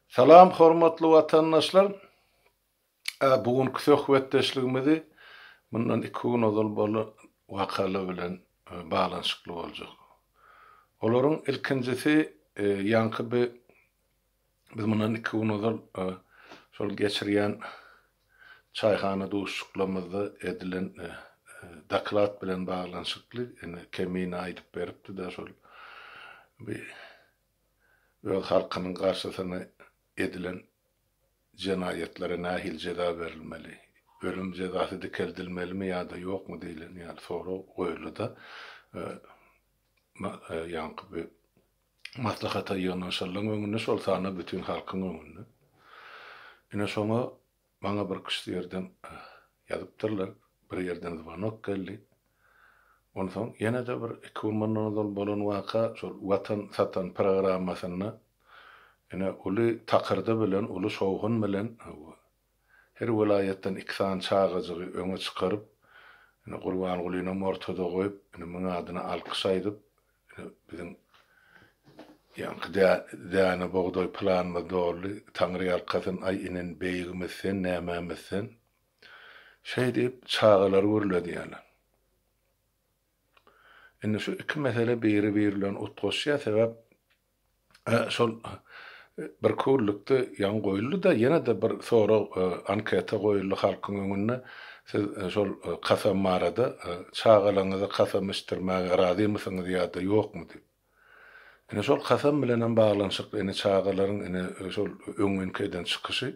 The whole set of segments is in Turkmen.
Salam hormatly watandaşlar! A bu günki söhbetdeşligimizi mundan iki gün ozal bolan wakalar bilen baglanyşykly boljak. Olaryň ilkinjisi ýaňky bi biz mundan iki gün ozal şol geçirýän Çaýhana duşuşyklarymyzda edilen doklad bilen baglanyşykly ene Kemine aýdyp beripdi-de şol bi öz halkynyň garşysyna edilen jenaýatlara nähili jeza berilmeli, ölüm jezasy dikeldilmelimi ýa-da ýokmy diýlen ýaly sorag goýuldy-da, ýaňky bi maslahata ýygnanyşanlaryň öňünde, şol sanda bütin halkyň öňünde. Ine şoňa maňa bir kişi ýerden ýazypdyrlar, bir ýerden zwanok geldi. Onsoň ýene-de bir iki gün mundan ozal bolan waka şol Watan satan programmasynda ine uly takyrdy bilen, uly şowhun bilen Her welaýatdan iki sany çagajygy öňe çykaryp, ine, Gurbangulynyňam ortada goýup, ine, müň adyna alkyş aýdyp, ine, biziň ýaňky dä, däne bugdaý planymyz doldy, Taňryýalkasyn, aý, inen beýigimiz sen, nämemiz sen. Şeý diýip, çagalary gürledýärler. Indi şu iki mesele biri-biri bilen utgaşýar, sebäp şol bir küllükde ýaňy goýuldy-da, ýene-de bir sorag, anketa goýuldy halkyň öňünde, Siz şol kasam barada, çagalaryňyza kasam içdirmäge razymysyňyz ýa-da ýokmy? diýip. Ine, şol kasam bilen hem baglanyşykly, ine, çagalaryň, ine, şol öňňinki eden çykyşy,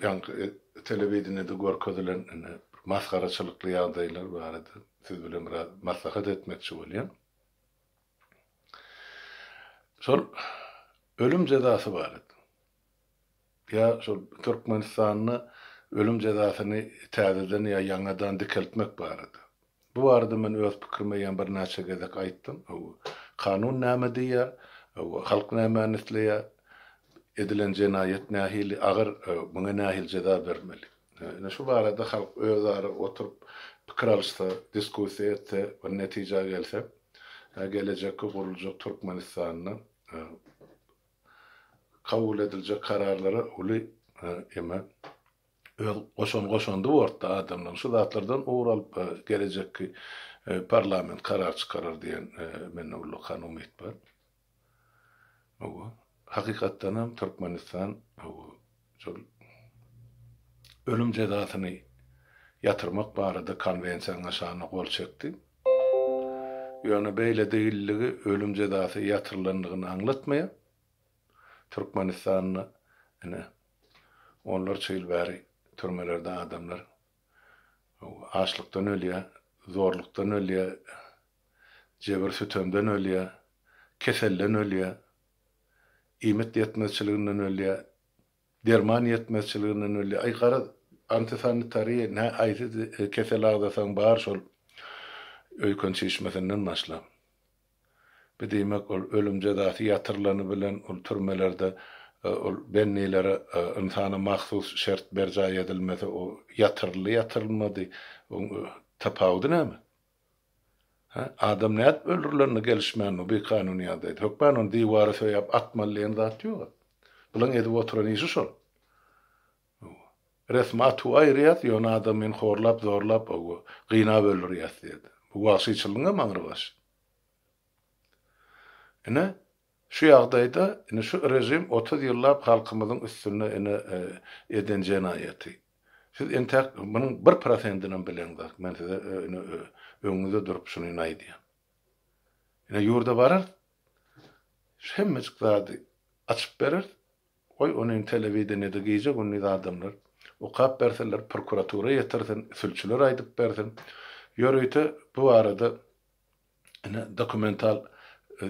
ýaňky telewideniýede görkezilen, ine, masgaraçylykly ýagdaýlar barada siz bilen biraz maslahat etmekçi bolýan. Şol ölüm jezasy barada ýa şol Türkmenistanda ölüm jezasyny täzeden ýa ýaňadan dikeltmek barada. Bu barada men öz pikirimi ýa birnäçe gezek aýtdym. Hawa, kanun näme diýýär? Hawa, halk nämäni isleýär? Edilen jenaýat nähili agyr, muňa nähili jeza bermeli? Ine şu barada halk özara oturyp pikir alyşsa, diskussiýa etse, bir netijä gelse, gelejekki guruljak Türkmenistanda kabul ediljek kararlara uly eme öz goşan goşandy bortda adamlaryň şu zatlardan ugur alyp gelejekki parlament karar çykarar diýen mende ullakan umyt bar. Hakykatdan hem Türkmenistan şol ölüm jezasyny ýatyrmak barada konwensiýanyň şanyna gol çekdi. Ýöne beýle degilligi ölüm jezasy ýatyrylandygyny aňlatmaýar. Türkmenistanda ine onlarça ýyl bäri türmelerde adamlar açlykdan ölýär, zorlukdan ölýär, jebir-sütemden ölýär, keselden ölýär, iýmit ýetmezçiliginden ölýär, derman ýetmezçiliginden ölýär. Aý, garaz, antisanitariýa, nä aýsy kesel agzasaň bar şol öýken çişmesinden başlap. Bi diýmek ol ölüm jezasy ýatyrylany bilen ol türmelerde ol bennilere ynsana mahsus şert berjaý edilmese o ýatyryldy ýatyrylmady oň tapawudy näme? Hä? Adam nädip öldürilenine gelişmän o bikanun ýagdaýda. Hökman ony diwara söýäp atmaly diýen zat ýoga. Bulaň edip oturan işi şol. Hawa. Resmi atuwy aýyrýas, ýöne adamyny horlap, zorlap, owo, gynap öldürýäs diýdi. Bu wagşyçylygyňam aňry baş. Ine, şu ýagdaýda, ine, şu režim otuz ýyllap halkymyzyň üstünde, ine, eden jenaýaty. Siz entäk munuň bir prosentinem bileňzok. Men size, ine, öňüňizde durup şuny, ine, aýdýan. Ine, ýurda bararys, hemmejik zady açyp bereris. Goý, ony telewideniýede gije-gündiz adamlar okap bersinler, prokuratura ýetirsin, sülçüler aýdyp bersin. Ýörite bu barada ine, dokumental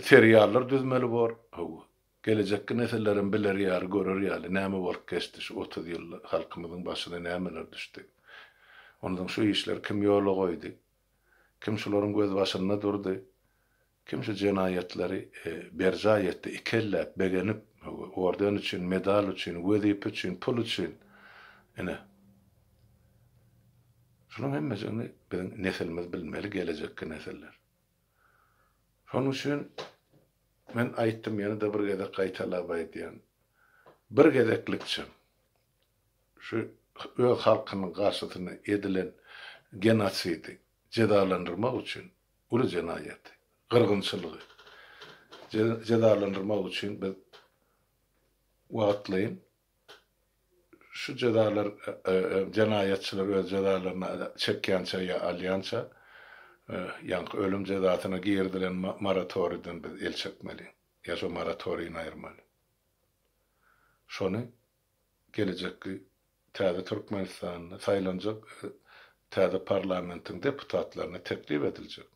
seriallar düzmeli bor. Hawa, gelejekki nesiller hem biler ýaly, görer ýaly, näme bolup geçdi şu otuz ýylda, halkymyzyň başyna nämeler düşdi. Onsoň şu işleri kim ýola goýdy? Kim şularyň gözbaşynda durdy? Kim şu jenaýatlary berjaý etdi, ikelläp, begenip, orden üçin, medal üçin, wezipe üçin, pul üçin, ine, şunuň hemmesini biziň nesilimiz bilmeli, gelejekki nesiller. Şonuň üçin men aýtdym, ýene-de bir gezek gaýtalap aýdýan, bir gezeklikçem şu öz halkynyň garşysyna edilen genosidi jezalandyrmak üçin uly jenaýaty, gyrgynçylygy jezalandyrmak üçin biz wagtlaýyn şu jezalar, jenaýatçylar öz jezalaryny çekýänçä ýa alýança, ýaňky ölüm jezasyna girizilen moratoriden biz el çekmeli, ýa şu moratoriýni aýyrmaly. Şony Gelejekki täze Türkmenistanda saýlanjak täze parlamentiň deputatlaryna teklip ediljek.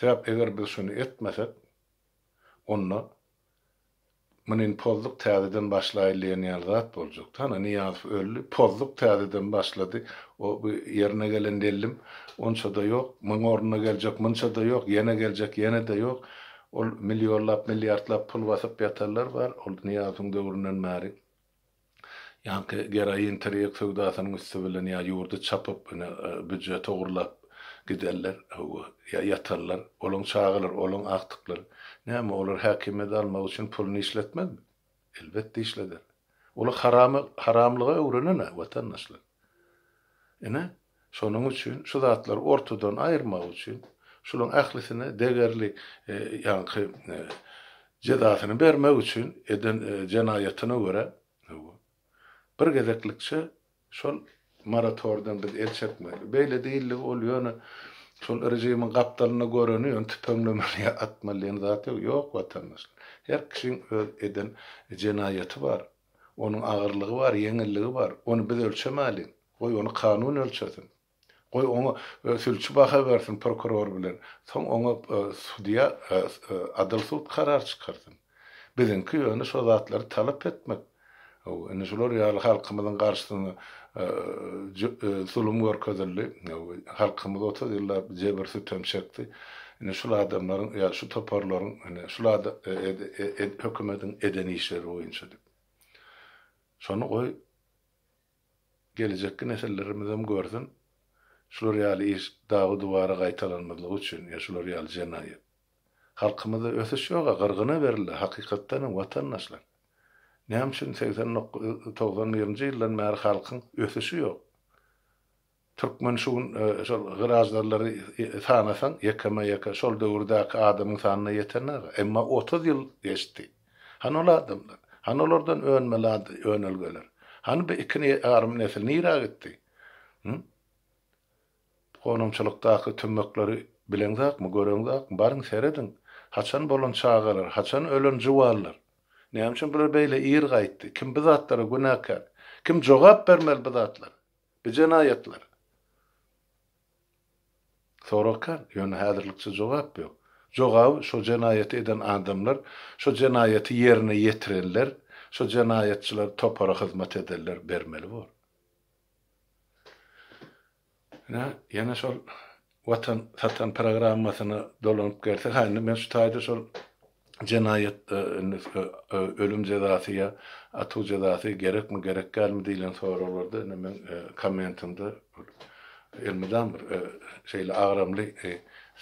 Sebäp eger biz şuny etmesek, onda munin pozduk täzeden başlaýyn diýen ýaly zat boljak. Hany Nyýazow öldi, pozduk täzeden başlady, o ýerine gelen dellim onça-da ýok, muň ornuna geljek munça-da ýok, ýene geljek ýene-de ýok. Ol millionlap, milliardlap pul basyp ýatanlar bar, ol Nyýazowyň döwründen bäri ýaňky geroin, tirýek söwdasynyň üsti bilen ýa ýurdy çapyp, ine, býujet ogurlap gidenler, hawa, ýa ýatanlar, olaň çagalary, olaň agtyklary. Näme, olar häkimiýeti almak üçin puluny işletmezmi? Elbetde işleder. Ol haramy haramlyga öwrenenä watandaşlar. Ine, şonuň üçin şu zatlary ortadan aýyrmak üçin şulaň ählisine degerli ýaňky jezasyny bermek üçin eden jenaýatyna görä bir gezeklikçe Şol moratoriýadan biz el çekmeli. Beýle diýildi, ol ýöne şol režimiň gapdalynda göreni ýöne tüpeňlemeli ýa atmaly diýen zat ýok. Ýok watandaşlar. Her kişiň öz eden jenaýaty bar. Onuň agyrlygy bar, ýeňilligi bar. Ony biz ölçemäliň. Goý ony kanun ölçesin. Goý, oňa sülçi baha bersin, prokuror bilen, soň oňa sudýa adyl sud karar çykarsyn. Biziňki ýöne şo zatlary talap etmek. Hawa, indi şular ýaly halkymyzyň garşysyna zulum görkezildi. Hawa, halkymyz otuz ýyllap jebir-sütem çekdi. Indi şul adamlaryň ýa şu toparlaryň indi şul hökümetiň eden işleri boýunça diýip. Şony goý, Gelejekki nesillermizem görsün şular ýaly iş dagy duwara gaýtalanmazlygy üçin ýa şular ýaly jenaýat. Halkymyzda ösüş ýoga gyrgyna berildi hakykatdanam watandaşlar. Näme üçin segsen dokuz togsan birinji ýyldan bäri halkyň ösüşi ýok. Türkmen şu gün şol gyraždarlary sanasaň, ýekeme-ýeke şol döwürdäki adamyň sanyna ýetenok-a. Emma otuz ýyl geçdi. Hany ol adamlar? Hany olardan önmeli önelgeler? Hany bu iki ýarym nesil nirä gitdi? Hü? Gonamçylykdaky tümmekleri bileňzakmy, göreňzakmi? Baryň, serediň. Haçan bolan çagalar, haçan ölen juwanlar? Näme üçin bular beýle ir gaýtdy? Kim bu zatlara günäkär? Kim jogap bermeli bu zatlara? Bu jenaýatlar. Sorag kän, ýöne häzirlikçe jogap ýok. Jogaby şo jenaýaty eden adamlar, şo jenaýaty ýerine ýetirenler, şo jenaýatçylar topara hyzmat edenler bermeli bor. Ine, ýene şol Watan satan programmasyna dolanyp gelsek, ha indi men şu taýda şol jenaýat ölüm jezasy ýa atuw jezasy gerekmi gerek dälmi diýlen soraglarda indi meň kommentimde elmydam bir şeýle agramly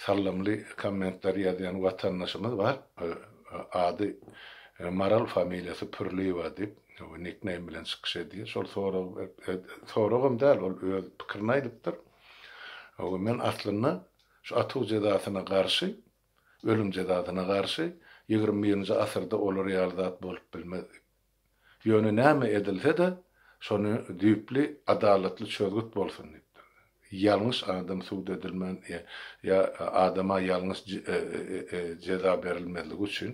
salymly kommentler ýazýan watandaşymyz bar. Ady Maral familiýasy Pürliýewa diýip nikneým bilen çykyş edýär. Şol sorag soragam däl ol öz pikirini aýdypdyr. Ooo men aslynda şu atuv jezasyna garşy, ölüm jezasyna garşy, ýigrimi birinji asyrda olar ýaly zat bolup bilmez diýip. Ýöne näme edilse-de şony düýpli adalatly çözgüt bolsun diýipdir. Ýalňyş adam sud edilmän ýa adama ýalňyş jeza berilmezligi üçin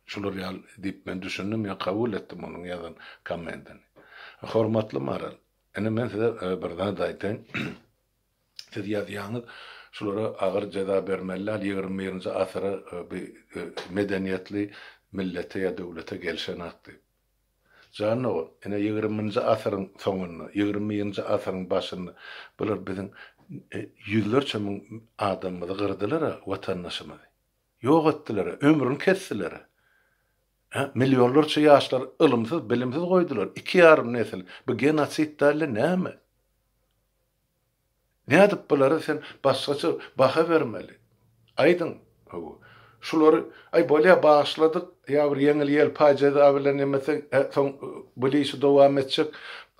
şular ýaly diýip men düşündim ýa kabul etdim onuň ýazan kommentini. Hormatly Maral. Indi men size bir zat aýtaýyn. Siz ýazýaňyz, şulara agyr jeza bermeli däl, ýigrimi birinji asyra bi medeniýetli millete ýa döwlete gelişenak diýip. Jan dogan, ine ýigriminji asyryň soňunda, ýigrimi birinji asyryň başynda bular biziň ýüzlerçe müň adamymyzy gyrdylar-a, watandaşymyzy. Ýok etdiler-a, ömrüni kesdiler-a. Hä, millionlarça ýaşlary ylymsyz, bilimsiz goýdular, iki ýarym nesil, bu genosid dälde näme? Nädip bulara sen başgaça baha bermeli? Aýdyň, hawa, şulary, aý, bolýa, bagyşladyk, ýa bir ýeňil-ýelpaý jeza bilen nemeseň, hä, soň bu işi dowam etjek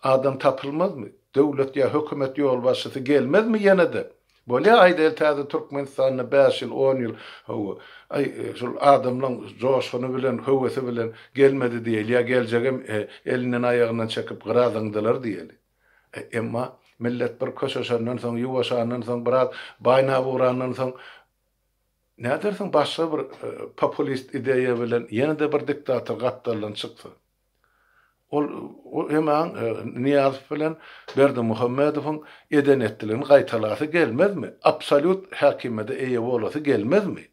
adam tapylmazmy? Döwlet ýa hökümet ýolbaşçysy gelmezmi ýene-de? Bolýa aýdaýyl täze Türkmenistanda bäş ýyl on ýyl hawa aý şul adamlaň joşguny bilen höwesi bilen gelmedi diýeli ýa geljegem elinden aýagyndan çekip gyra zyňdylar diýeli emma millet bir köşeşenden soň ýuwaşandan soň biraz baýnap ugrandan soň nädersiň başga bir populist ideýa bilen ýene-de bir diktator gapdaldan çyksa. Ol Eman Nyýazow bilen Berdimuhamedowyň eden-etdiligini gaýtalasy gelmezmi? Absolýut häkimiýede eýe bolasy gelmezmi?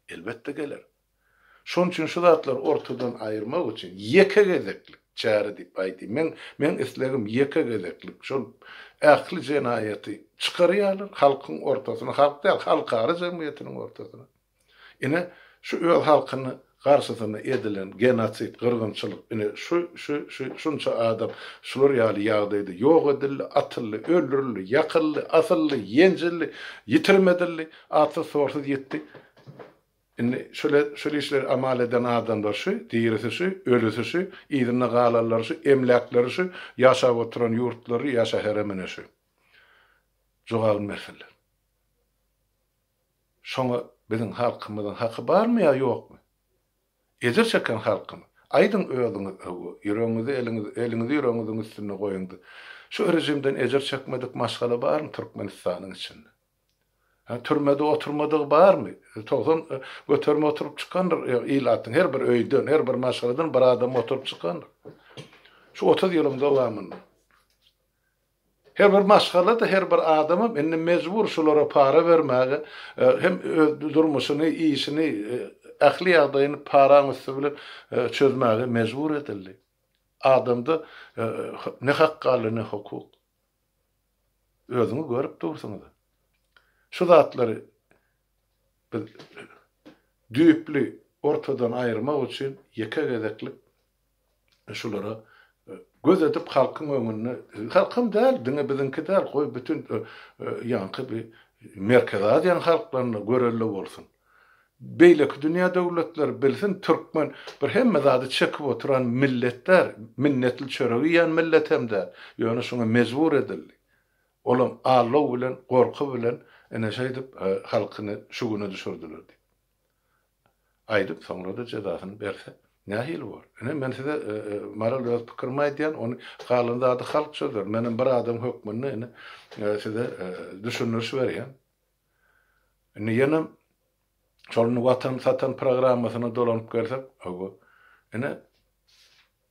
Elbetde geler. Şonuň üçin şu zatlary ortadan aýyrmak üçin ýeke gezeklik çäre diýip aýdýan. Meň meň islegim ýeke gezeklik şol ähli jenaýaty çykarýarlar halkyň ortasyna, halk däl, halkara jemgyýetiniň ortasyna. Ine, şu öz halkyny garşysyna edilen genosid, gyrgynçylyk, ine, şu, şu, şu, şunça adam şular ýaly ýagdaýda ýok edildi, atyldy, öldürildi, ýakyldy, asyldy, ýenjildi, ýitirim edildi, atsyz-torsuz ýitdi. Indi şule, şul işleri amal eden adamlar şu, dirisi şu, ölüsi şu, yzynda galanlary şu, emläkleri şu, ýaşap oturan ýurtlary ýa şäherem ine şu. Jogabyny bersinler. Şoňa biziň halkymyzyň haky barmy ýa ýokmy? Ejir çeken halkymy? Aýdyň özüňiz hawa, ýüregiňizi eliňiz, eliňizi ýüregiňiziň üstünde goýuňda. Şu rejimden ejir çekmedik maşgala barmy Türkmenistanyň içinde? Hä, türmede oturmadygy barmy? Togsan göterime oturyp çykandyr ilatyň her bir öýden, her bir maşgaladan bir adam oturyp çykandyr. Şu otuz ýylyň dowamynda. Her bir maşgala-da, her bir adamam indi mejbur şulara para bermäge, hem öz durmuşyny, işini, ähli ýagdaýyny paraň üsti bilen çözmäge mejbur edildi. Adamda ne hak galdy, ne hukuk. Özüňiz görüp dursuňyz. Şu zatlary biz düýpli ortadan aýyrmak üçin ýeke gezeklik şulara göz edip halkyň öňünde halkym däl diňe biziňki däl goý bütün ýaňky bir merkezi aziýanyň halklaryna görelde bolsun beýleki dünýä döwletleri bilsin türkmen bir hemme zady çekip oturan millet däl minnetli çörek iýen millet hem däl ýöne şuňa mejbur edildi olam allow bilen gorky bilen ine şeýdip halkyny şu güne düşürdiler diýip. Aýdyp soňrada jezasyny berse nähili bor. Ine men size Maral öz pikirimi aýdýan ony galan zady halk çözer menem bir adam hökmünde indi size düşündiriş berýän. Indi ýenem şol indi watan satan programmasyna dolanyp gelsek owo ine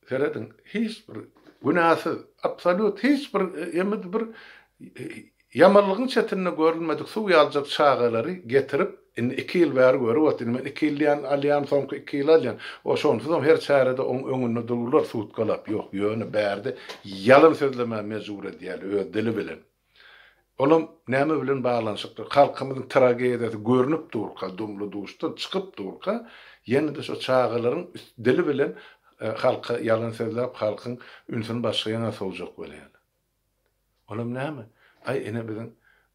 Serediň, hiç bir günäsiz, absolýut hiç bir ýa-da bir ýamanlygyň çetinde görülmedik suw ýaljak çagalary getirip, indi iki ýyl bäri görüp otyr. Indi men iki ýyl diýýän, alýan, soňky iki ýyl alýan. O şonsuzam her çärede oň öňünde dururlar sutkalap. Ýok, ýöne bärde ýalan sözlemäge mejbur edýärler öz dili bilen. Olam näme bilen baglanyşyklydyr? Halkymyzyň tragediýasy görnüp durka, dumly duşdan çykyp durka, ýene-de şo çagalaryň üst dili bilen halka ýalan sözläp, halkyň ünsüni başga ýana sowjak bolýarlar. Olam näme? Aý, ine biziň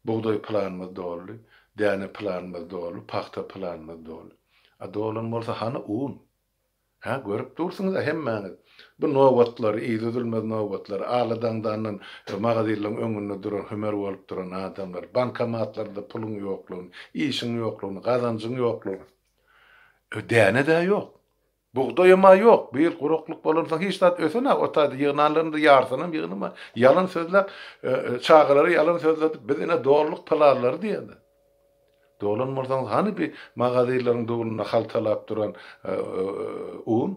bugdaý planymyz doldy, däne planymyz doldy, pagta planymyz doldy. A dolan bolsa hany un? Hä, görüp dursuňyz-a hemmäňiz. Bu nobatlar, yzydülmez nobatlar. Aly daňdandan magazinlaryň öňünde duran, hümer bolup duran adamlar. Bankomatlarda puluň ýoklugyny, işiň ýoklugyny, gazanjyň ýoklugyny. Däne-dä ýok. Bugdaýam-a ýok. Bu ýyl guraklyk bolansoň hiç zat ösen-a o taýda. Ýygnanlaryň-da ýarysynam ýygnama. Ýalan sözläp, çagalary ýalan sözledip, biz ine dolduk plazlary diýende. Dolan bolsaňyz hany bi magazirleriň dubulynda haltalap duran un?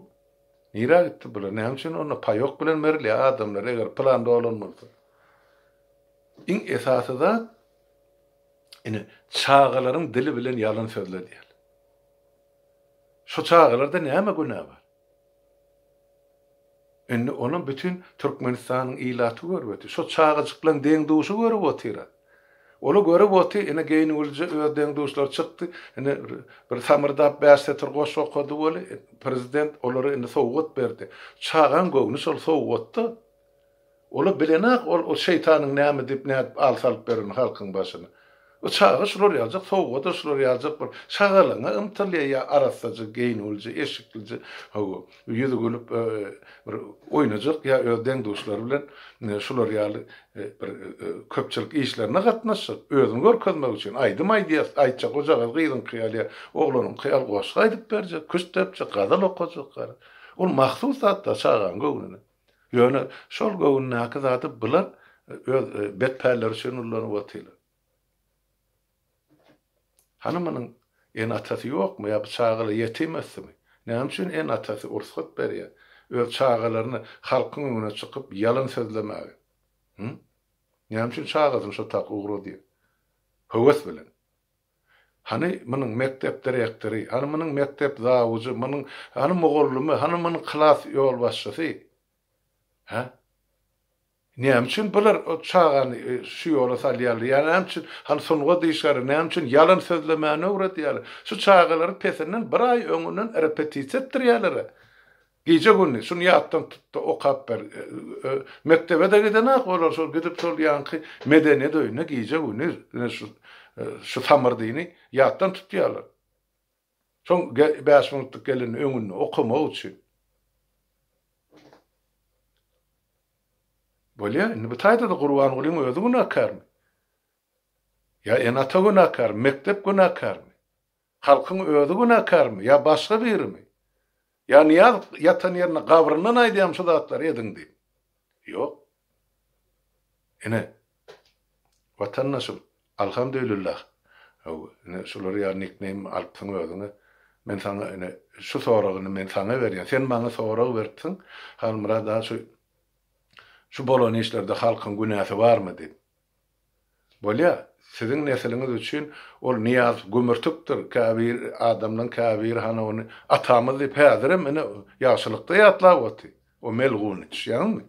Nirä gitdi bular? Näme üçin onda paýok bilen berilýär adamlar eger plan dolan bolsa? Iň esasy zat ine çagalaryň dili bilen ýalan sözledýär. Şu çagalarda näme günä bar? Indi ony bütin Türkmenistanyň ilaty görübedi. Şo çagajyklaň deň-duşy görüp otyra. Ol-a görüp oty, ine geýnüwlije öz deň-duşlary çykdy. Ine bir samyrdap bäş setir goşgy okady weli, prezident olary indi sowgat berdi. Çagaň göwni şol sowgatda. Ol-a bilenok ol o şeýtanyň näme diýip nädip al salyp berenini halkyň başyna. O çaga şular ýaljak sowgada şular ýaljak bir şagalaňa ymtylýa ýa arassaja geýnulja eşiklije hawa ýüzi gülüp bir oýnajak ýa öz deň-duşlary bilen şular ýaly bir köpçülik işlerine gatnaşjak özüni görkezmek üçin aýdym aýdýas aýtjak ojagaz gyzyňky ýaly ýa oglanyňky ýaly goşgy aýdyp berjek küşt depjek gazal okajak gara ol mahsus zatlar çagaň göwnüne. Ýöne şol göwündäki zady bular öz bet pälleri üçin ullanyp otyrlar. Hany munuň ene-atasy ýokmy ýa bu çagalar ýetim ösdümi? Näme üçin ene-atasy ursgat berýär öz çagalaryny halkyň öňüne çykyp ýalan sözlemäge? Hü? Näme üçin çagasyny şo tak ugradýar? Höwes bilen. Hany munuň mekdep direktory, hany munuň mekdep zawujy, munuň hany mugallymy, hany munuň klas ýolbaşçysy? Hä? Näme üçin bular çagany şu ýola salýarlar? Ýa näme üçin hany sungat işgäri, näme üçin ýalan sözlemäni öwredýärler? Şu çagalary pesinden bir aý öňünden repetisiýa etdirýärler-ä. Gije-gündiz şuny ýatdan tut-da okap ber. Mekdebe-de gidenak olar, şol gidip şol ýaňky medeniýet öýüne gije-gündiz ine şu şu samyrdyny ýatdan tutýarlar. Soň bäş minutlyk gelende öňünde okamak üçin. Bolýar, indi bu taýda-da Gurbangulyň özi günäkärmi? Ýa ene-ata günäkärmi? Mekdep günäkärmi? Halkyň özi günäkärmi, ýa başga birimi? Ýa Nyýaz ýatan ýerinde gabryndan aýdýarmy şu zatlary ediň diýip? Ýok. Ine, watandaşym, alhamdülillah, hawa, ine, şular ýaly nikneým alypsyň özüňe. Men saňa, ine, şu soragy indi men saňa berýän. Sen maňa sorag beripsiň, Halmyrat aga, şu, şu bolan işlerde halkyň günäsi barmy diýip. Bolýar, siziň nesiliňiz üçin ol Nyýaz gümürtikdir, käbir adamlaryň käbiri hany ony atamyz diýip häzirem ine ýagşylykda ýatlap otyr. O melgun düşýäňizmi?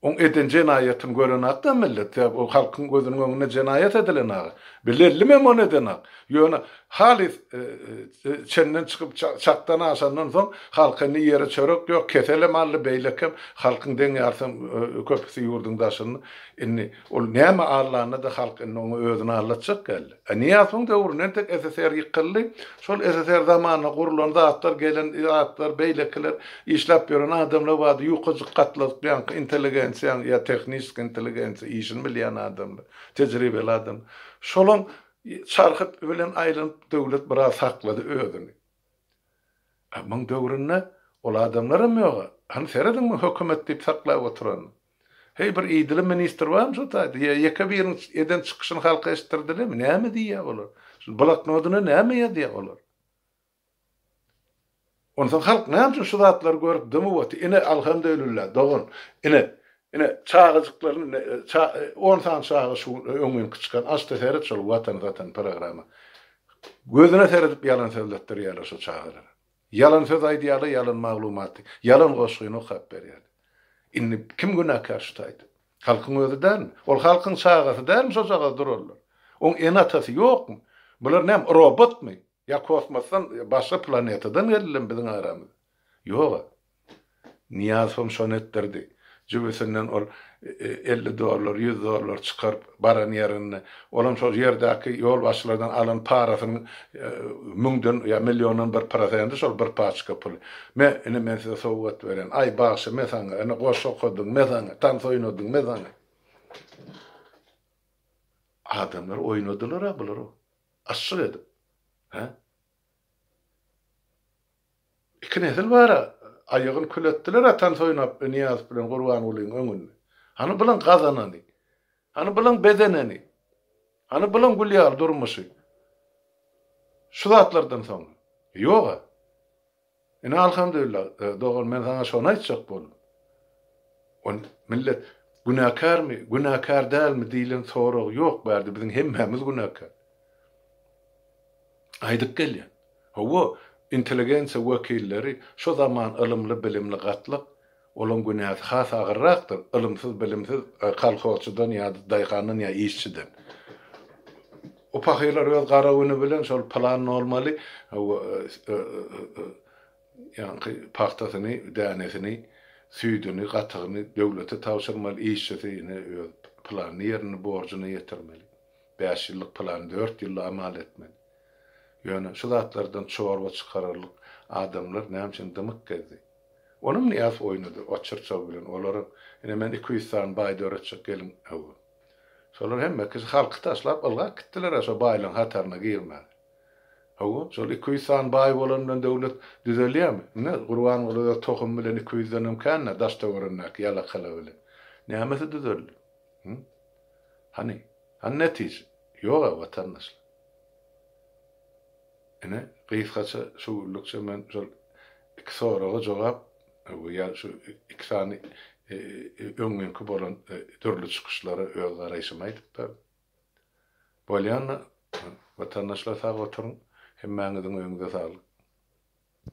Oň eden jenaýatyny görenakda millet, sebäbi o halkyň gözüniň öňünde jenaýat edilenak. Bilellimem ony edenak. Ýöne halys çenden çykyp çakdan aşandan soň halka indi ýere çörek ýok, keselem aldy, beýlekem halkyň deň ýarsam köpüsi ýurduň daşynda. Indi ol näme allanda-da halk indi oňa özüni allatjak geldi. A Nyýazowyň döwründe entek SSR ýykyldy. Şol SSR zamanynda gurlan zatlar, gelen zatlar, beýlekiler, işläp ýören adamlar bardy, ýukajyk gatladyk ýaňky intelligensiýaň ýa tehniski intelligensiýa, işini bilýän adamlar, tejribeli adamlar. Şolaň çarhy bilen aýlanyp döwlet biraz saklady özüni. A muň döwründe ol adamlaram ýog-a. Hany serediň muň hökümet diýip saklap oturanyny. Heý bir idili ministr barmy şu taýda? Ýa ýeke biriň eden çykyşyny halka eşitdirdilermi? Näme diýýä olar? Şul bloknodyna näme ýazýa olar? Onsoň halk näme üçin şu zatlary görüp dymyp otyr? Ine alhamdulillah dogan. Ine, ine çagajyklaryny ine ça on sany çaga şu öň günki çykan aç-da seret şol Watan satan programma. Gözüne seredip ýalan sözletdirýärler şu çagalara. Ýalan söz aýdýarlar, ýalan maglumaty, ýalan goşgyny okap berýärler. Indi kim günäkär şu taýda? Halkyň özi dälmi? Ol halkyň çagasy dälmi şojagaz durallar? Oň ene-atasy ýokmy? Bular näme, robotmy? Ýa kosmosdan, başga planetadan geldilermi biziň aramyza? Ýog-a. Nyýaz hem şony etdirdi. Jübüsinden ol elli dollar, ýüz dollar çykaryp, baran ýerinde, olam şol ýerdäki ýolbaşçylardan alan parasynyň müňden ýa milliondan bir prosendi şol bir paçka pul. Me, ine men size sowgat berýän. Aý, bagşy, me saňa, ine goşgy okadyň, me saňa, tans oýnadyň, me saňa. Adamlar oýnadylar-a bular, aşşyk edip. Hä? Iki nesil bar-a, aýagyny kül etdiler atan Soýnap Nyýazow bilen Gurbangulyň öňünde. Hany bylaň gazanany? Hany bylaň bezeneni? Hany bylaň gül ýaly durmuşy? Şu zatlardan soň-a? Ýog-a. Ine alhamdulillah dogan men saňa şony aýtjak boldum. Ony millet günäkärmi, günäkär dälmi diýlen sorag ýok bärde biziň hemmämiz günäkär. Aýdyp gelýän. Hawa, intelligensiýa wekilleri şu zaman ylymly bilimli gatlak Olaň günäsi has agyrrakdyr, ylymsyz, bilimsiz kolhozçydan ýa-da daýhandan ýa işçiden. O pahyrlar öz gara güni bilen şol plan nolmaly ýaňky pagtasyny, dänesini, süýdüni, gatygyny döwlete tabşyrmaly, işçisi ýene öz planyny ýerine, borjuna ýetirmeli. Bäş ýyllyk plany dört ýylda amal etmeli. Ýöne şu zatlardan çorba çykararlyk adamlar näme üçin dymyk gezdi? Onam Nyýaz oýnady, o çyrçaw bilen, olaram, ine, men iki ýüz sany baý döretjek gelin, hawa. Şolar hemmekisi halky taşlap ylgap gitdiler-ä şo baýlaryň hataryna girmän. Hawa, şol iki ýüz sany baý bolan bilen döwlet düzelýärmi? Ine, Gurbanguly öz tohumy bilen iki ýüzdenem kän-ä daş-töwerenindäki ýalakala bilen. Nämesi düzeldi? Hü? Hany? Hany netije? Ýog-a, watandaşlar. Ine, gysgaça şu günlükçe men şol iki soraga jogap we ýa şu iki sany öňňinki bolan dürli çykyşlara öz garaýşymy aýdyp berdim. Bolýanda, watandaşlar sag oturyň, hemmäňiziň öýüňize saglyk.